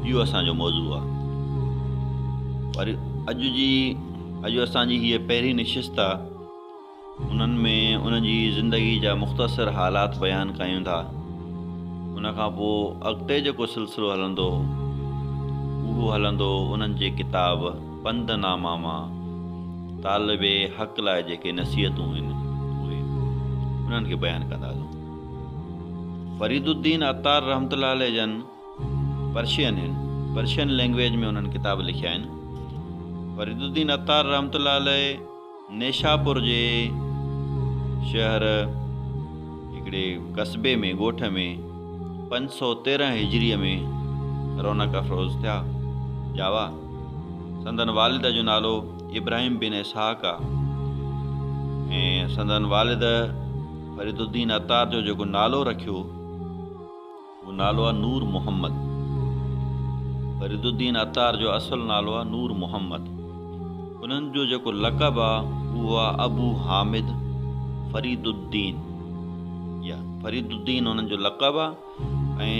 اهو اسان جو موضوع آهي پر اڄ جي اڄ اسان جي هيء پهرين نشست آهي انهن ۾ ان جي زندگي جا مختصر حالات بيان ڪيون ٿا ان کان پوء اڳتي جيڪو سلسلو هلندو اهو هلندو انهن جي ڪتاب پنڌ ناما مان طالب حق لاء جيڪي نصيحتون آهن اهي انهن کي بيان ڪنداسون فريد الدين عطار رحمت الله عليه جن پرشين هن پرشين لينگويج ۾ انهن ڪتاب لکيا آهن فريد الدين عطار رحمة الله عليه نيشاپور جي شهر هڪڙي قصبي ۾ ڳوٺ ۾ پنج سؤ تيرهن هجري ۾ رونق افروز ٿيا جاوا سندن والد جو نالو ابراهيم بن اسحاق آ ۽ سندن والد فريد الدين عطار جو جيڪو نالو رکيو جو نالو آ نور محمد. فريد الدين عطار جو اصل نالو آ نور محمد. انهن جو جيڪو لقب آ اهو آ ابو حامد فريد الدين. يا فريد الدين انهن جو لقب آ ۽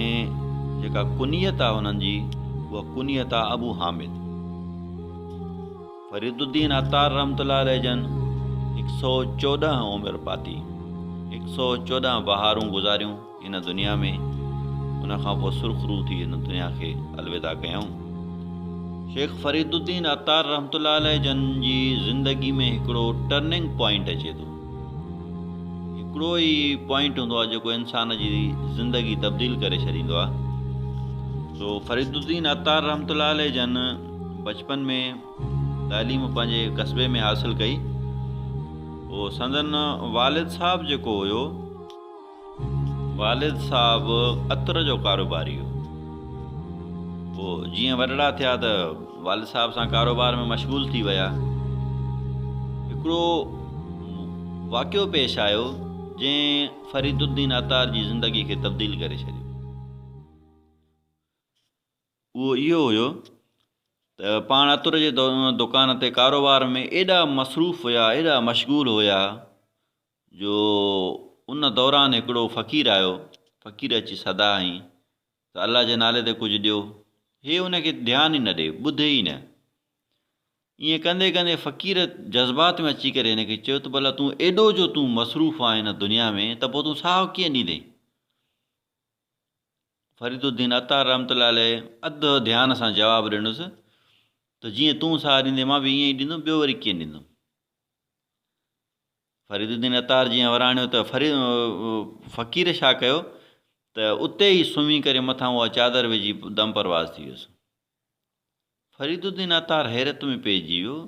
جيڪا ڪنيت آ انهن جي اها ڪنيت آ ابو حامد. فريد الدين عطار رحمة الله عليه جن هڪ سئو چوڏهن عمر پاتي، هڪ سئو چوڏهن بهارون گذاريون. هن دنيا ۾، ان کان پوء سرخ روح ٿي هن دنيا کي الوداع ڪيائون. شيخ فريد الدين عطار رحمة الله عليه جن جي زندگي ۾ هڪڙو ٽرننگ پوائنٽ اچي ٿو. هڪڙو ئي پوائنٽ هوندو آهي جيڪو انسان جي زندگي تبديل ڪري ڇڏيندو آهي. سو فريد الدين عطار رحمة الله عليه جن بچپن ۾ تعليم پنهنجي قصبي ۾ حاصل ڪئي. سندن والد صاحب جيڪو هيو. والد صاحب عطر جو ڪاروباري هو. پوء جيئن وڏڙا ٿيا ته والد صاحب سان ڪاروبار ۾ مشغول ٿي ويا. هڪڙو واقعو پيش آيو جنهن فريد الدين عطار جي زندگي کي تبديل ڪري ڇڏيو. اهو اهو هيو ته پاڻ عطر جي دڪان تي ڪاروبار ۾ ايڏا مصروف هيا ايڏا مشغول هيا جو ان دوران هڪڙو فقير آيو، فقير اچي سدا هنئي ته الله جي نالي تي ڪجهه ڏيو، هي ان کي ڌيان ئي نه ڏي، ٻڌي ئي نه. ائين ڪندي ڪندي فقير جذبات ۾ اچي ڪري هن کي چيو ته ڀلا تون ايڏو جو تون مصروف آهين هن دنيا ۾ ته پوء تون ساهه ڪيئن ڏيندين؟ فريد الدين عطار رحمة الله عليه اڌ ڌيان سان جواب ڏنس ته جيئن تون ساهه ڏيندين مان به ائين ئي ڏيندم ٻيو وري ڪيئن ڏيندم؟ فريد الدين عطار جيئن وراڻيو ته فقير شاهه ڪيو ته اتي ئي سمهي ڪري مٿان اها چادر وجهي دم پرواز ٿي ويس. فريد الدين عطار حيرت ۾ پئجي ويو.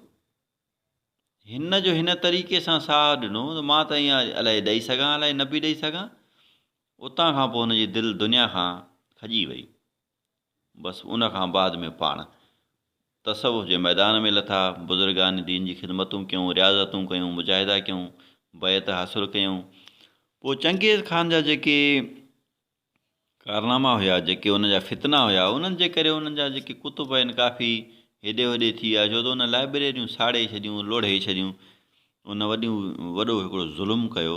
هن جو هن طريقي سان ساهه ڏنو ته مان ته ايئن الائي ڏئي سگهان الائي نه پئي ڏئي سگهان. اتان کان پوء هن جي دل دنيا کان کڄي وئي. بس ان کان بعد ۾ پاڻ تصوف جي ميدان ۾ لٿا، بزرگان دين جي خدمتون ڪيون، رياضتون ڪيون، مجاهدا ڪيون، بيعت حاصل ڪيون. پوء چنگيز خان جا جيڪي ڪارناما هيا، جيڪي ان جا فتنا هيا، انهن جي ڪري انهن جا جيڪي ڪتب آهن ڪافي هيڏي هوڏي ٿي ويا، ڇو ته ان لائبريريون ساڙي ڇڏيون، لوڙهي ڇڏيون، ان وڏيون وڏو هڪڙو ظلم ڪيو.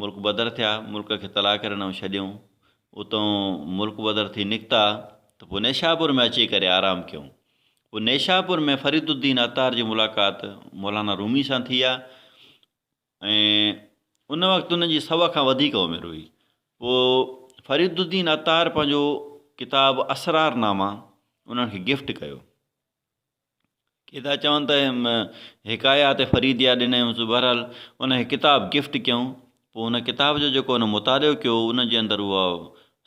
ملڪ بدر ٿيا، ملڪ کي طلاق ڪري نئون ڇڏيئون. اتئون ملڪ بدر ٿي نڪتا ته پوء نيشاپور ۾ اچي ڪري آرام ڪيئون. پوء نيشاپور ۾ فريد الدين عطار جي ملاقات مولانا رومي سان ٿي آ ۽ ان وقت انهن جي سؤ کان وڌيڪ عمر هئي. پوء فريد الدين عطار پنهنجو ڪتاب اسرار نامه انهن کي گفٽ ڪيو. ڪي ٿا چون ته حڪايات فريديه ڏني هئس، بهرحال ان کي ڪتاب گفٽ ڪيائون، پوء ان ڪتاب جو جيڪو هن مطالعو ڪيو، ان جي اندر اها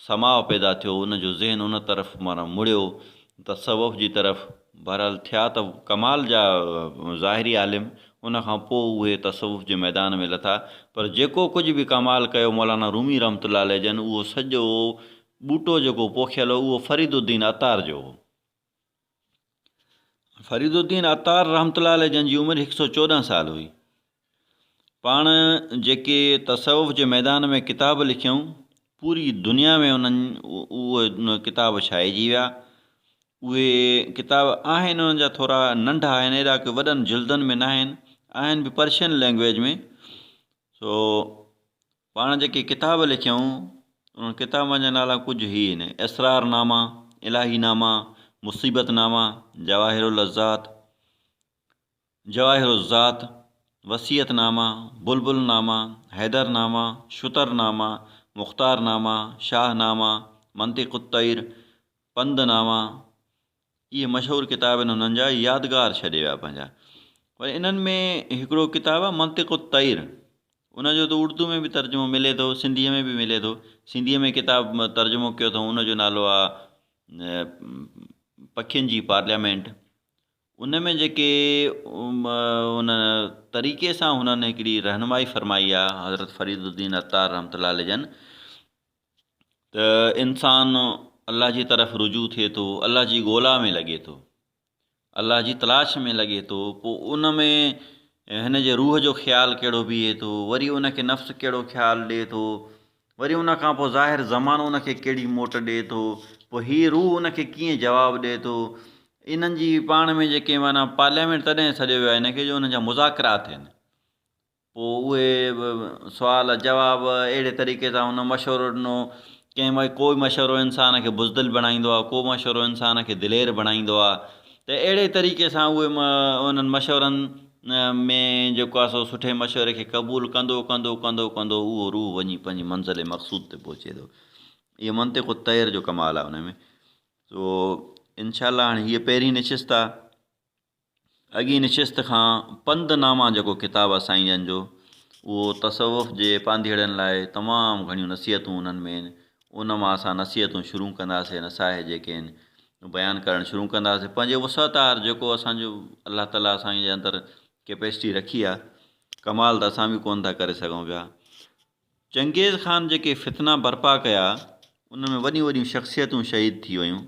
سماء پيدا ٿيو، ان جو ذهن ان طرف معنيٰ مڙيو، تصوف جي طرف، بهرحال ٿيا ته ڪمال جا ظاهري عالم، ان کان پوء اهي تصوف جي ميدان ۾ لٿا، پر جيڪو ڪجهه به ڪمال ڪيو مولانا رومي رحمة الله عليه جن، اهو سڄو ٻوٽو جيڪو پوکيل هو، اهو فريد الدين عطار جو هو. فريد الدين عطار رحمة الله عليه جن جي عمر هڪ سؤ چوڏهن سال هئي پاڻ جيڪي تصوف جي ميدان ۾ ڪتاب لکيائون پوري دنيا ۾ انهن اهي ڪتاب ڇائجي ويا اهي ڪتاب آهن انهن جا ٿورا ننڍا آهن اهڙا ڪي وڏن جلدن ۾ ناهن آهن به پرشين لينگويج ۾ سو پاڻ جيڪي ڪتاب لکيائون، انهن ڪتابن جا نالا ڪجهه هي آهن، اسرار نامه، الاهي نامه، مصيبت نامه، جواهر اللذات، جواهر الذات، وصيت نامه، بلبل نامه، حيدر نامه، شتر نامه، مختار نامه، شاهه نامه، منطق الطير، پند نامه، اهي مشهور ڪتاب آهن انهن جا يادگار ڇڏي ويا پنهنجا وري انهن ۾ هڪڙو ڪتاب آهي منطق الطير ان جو ته اردو ۾ به ترجمو ملي ٿو سنڌيء ۾ به ملي ٿو سنڌيء ۾ ڪتاب ترجمو ڪيو اٿئون ان جو نالو آهي پکين جي پارليامينٽ ان ۾ جيڪي ان طريقي سان هنن هڪڙي رهنمائي فرمائي آهي حضرت فريد الدين عطار رحمة الله عليه جن ته انسان الله جي طرف رجوع ٿئي ٿو الله جي ڳولا ۾ لڳي ٿو الله جي تلاش ۾ لڳي ٿو پوء ان ۾ هن جي روح جو خيال کهڙو بيهي ٿو وري ان کي نفس کهڙو خيال ڏئي ٿو وري ان کان پوء ظاهر زمانو ان کي کهڙي موٽ ڏئي ٿو پوء هي روح ان کي ڪيئن جواب ڏئي ٿو انهن جي پاڻ ۾ جيڪي معنيٰ پارليامينٽ تڏهن سڏيو ويو آهي هن کي جو هن جا مذاڪرات ٿين پوء اهي سوال جواب اهڙي طريقي سان هن مشورو ڏنو ڪنهن مئي ڪو مشورو انسان کي بزدل بڻائيندو آهي ڪو مشورو انسان کي دلير بڻائيندو آهي ته اهڙي طريقي سان اهي انهن مشورن ۾ جيڪو آهي سو سٺي مشوري کي قبول ڪندو ڪندو ڪندو ڪندو اهو روح وڃي پنهنجي منزل مقصود تي پهچي ٿو اهو منطق الطير جو ڪمال آهي ان ۾ سو انشاء الله هاڻي هيء پهرين نشست آهي اڳين نشست کان پنڌ نامه جيڪو ڪتاب آ سائين جن جو اهو تصوف جي پانڌيئڙن لاء تمام گهڻيون نصيحتون انهن ۾ آهن ان مان اسان نصيحتون شروع ڪنداسين نصائح جيڪي آهن بيان ڪرڻ شروع ڪنداسين پنهنجي وسعت آهر جيڪو اسان جو الله تعالي اسان جي اندر ڪيپيسٽي رکي آ ڪمال ته اسان به ڪونه ٿا ڪري سگهون پيا چنگيز خان جيڪي فتنا برپا ڪيا ان ۾ وڏيون وڏيون شخصيتون شهيد ٿي ويون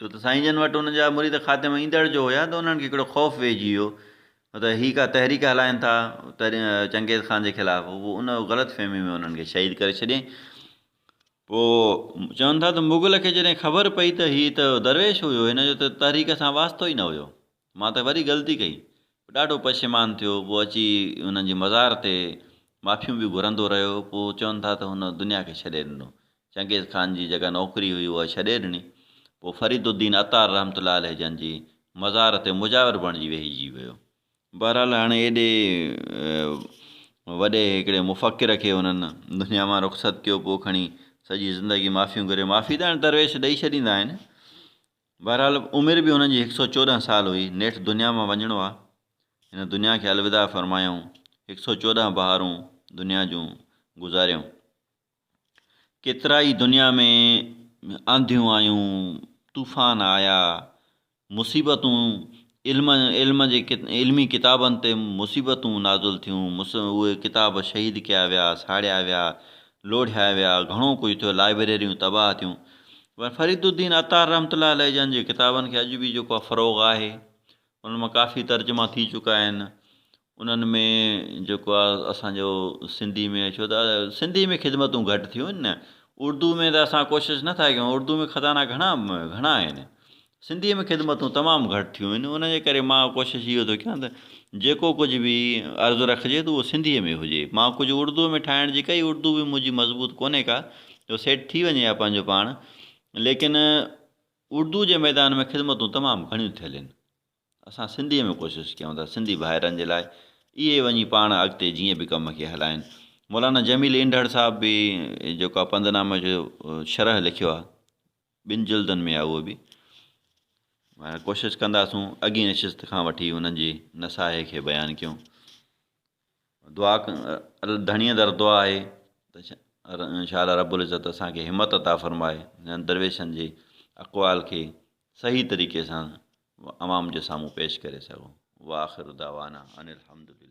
ڇو ته سائين جن وٽ انهن جا مريد خاتمه ايندڙ جو هيا ته انهن کي هڪڙو خوف ويهجي ويو هو ته هي ڪا تحريڪ هلائين ٿا چنگيز خان جي خلاف هو پوء ان غلط فهمي ۾ انهن کي شهيد ڪري ڇڏيائين پوء چون ٿا ته مغل کي جڏهن خبر پئي ته هي ته درويش هيو هن جو ته تحريڪ سان واسطو ئي نه هيو مان ته وري غلطي ڪئي. هو ڏاڍو پشيمان ٿيو. پوء اچي هنن جي مزار تي معافيون به گهرندو رهيو. پوء چون ٿا ته هن دنيا کي ڇڏي ڏنو. چنگيز خان جي جيڪا نوڪري هئي اها ڇڏي ڏني. پوء فريد الدين عطار رحمة الله عليه جن جي مزار تي مجاور بڻجي ويهجي ويو. بهرحال هاڻي ايڏي وڏي هڪڙي مفڪر کي هنن دنيا مان رخصت ڪيو. پوء کڻي سڄي زندگي معافيون گهري. معافي ته هاڻي درويش ڏئي ڇڏيندا آهن. بهرحال عمر به هن جي هڪ سئو چوڏهن سال هئي، نيٺ دنيا مان وڃڻو آ، هن دنيا کي الوداع فرمايائون، هڪ سئو چوڏهن بهارون دنيا جون گذاريائون. ڪيترائي دنيا ۾ آنڌيون آيون، طوفان آيا، مصيبتون علم علم جي علمي ڪتابن تي مصيبتون نازل ٿيون، مص اهي ڪتاب شهيد ڪيا ويا، ساڙيا ويا، لوڙهيا ويا، گهڻو ڪجهه ٿيو، لائبريريون تباهه ٿيون. پر فريد الدين عطار رحمة الله عليه جن جي ڪتابن کي اڄ به جيڪو آهي فروغ آهي، انهن مان ڪافي ترجما ٿي چڪا آهن، انهن ۾ جيڪو آ اسان جو سنڌي ۾ ڇو ته سنڌي ۾ خدمتون گهٽ ٿيون آهن نه اردو ۾ ته اسان ڪوشش نه ٿا ڪيون اردو ۾ خزانا گهڻا گهڻا آهن سنڌي ۾ خدمتون تمام گهٽ ٿيون آهن ان جي ڪري مان ڪوشش اهو ٿو ڪيان ته جيڪو ڪجهه به عرض رکجي ته اهو سنڌي ۾ هجي مان ڪجهه اردو ۾ ٺاهڻ جي ڪئي اردو به منهنجي مضبوط ڪونهي ڪا جو سيٽ ٿي وڃي ها پنهنجو پاڻ ليڪن اردو جي ميدان ۾ خدمتون تمام گهڻيون ٿيل آهن اسان سنڌيء ۾ ڪوشش ڪيون ٿا سنڌي ڀائرن جي لاء اهي وڃي پاڻ اڳتي جيئن به ڪم کي هلائين. مولانا جميل اينڊهڙ صاحب به جيڪو آ پنڌ نامه جو شرح لکيو آ ٻن جلدن ۾ آ اهو به ڪوشش ڪنداسون اڳين نشست کان وٺي انهن جي نصائح کي بيان ڪيون. دعا ڌڻيء در دعا آهي ته شا الله رب العزت اسان کي همت عطا فرمائي انهن درويشن جي اقوال کي صحيح طريقي سان عوام جي سامهون پيش ڪري سگهون واخر دعوانا ان الحمد لله.